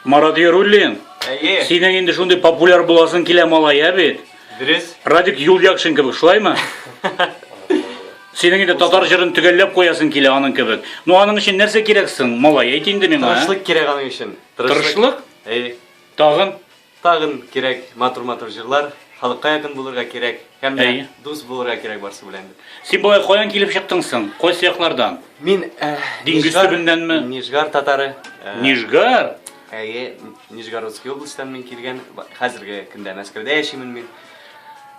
Марат Яруллин, Әйе. синең инде шундый популяр буласың килә малай, ә бит? Дөрес. Радик Юльякшин кебек, шулаймы? Синең инде татар җырын төгәлләп куясың килә аның кебек. Ну аның өчен нәрсә кирәк соң, малай, әйт инде миңа. а? Тырышлык кирәк аның өчен. Тырышлык? Әйе. Тагын? Тагын кирәк матур матур җырлар. Халыкка якын булырга кирәк һәм дә дус булырга кирәк барсы белән. Син болай каян килеп чыктың соң? Кайсы яклардан? Мин Диңгез төбеннәнме? Нижгар татары. Нижгар? Әйе, Нижгородский областьтан мин килгән. Хәзерге көндә Мәскәүдә яшимен мин.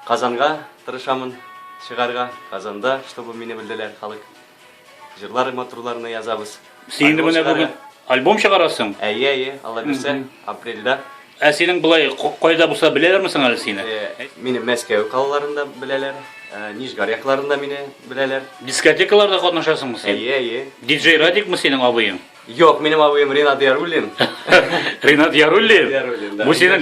Казанга тырышамын чыгарга. Казанда, чтобы мине белделәр халык. Җырлар матурларны язабыз. Син инде менә бүген альбом чыгарасың. Әйе, әйе, алла бирсә, апрельдә. Ә синең былай кайда булса беләләрме соң әле сине? Э, мине Мәскәү калаларында беләләр, э, Нижгар якларында мине беләләр. Дискотекаларда катнашасыңмы син? Әйе, әйе. Диджей Радикмы синең абыең? Юк, минем абыем Ринат Яруллин. Ринат Яруллин? Яруллин, да. Бу синең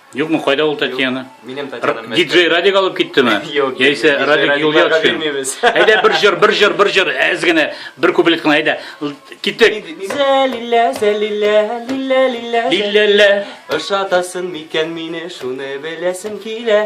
Юкмы, кайда ул Татьяна? Минем Татьяна. Диджей Радик алып киттеме? Юк. Яисә Радик юлга төшкән. Әйдә бер җыр, бер җыр, бер җыр, әз генә, бер куплет кына, әйдә. Киттек. Зәлилә, зәлилә, лилә, лилә. Лиләлә. Ошатасын микән мине, шуны беләсем килә.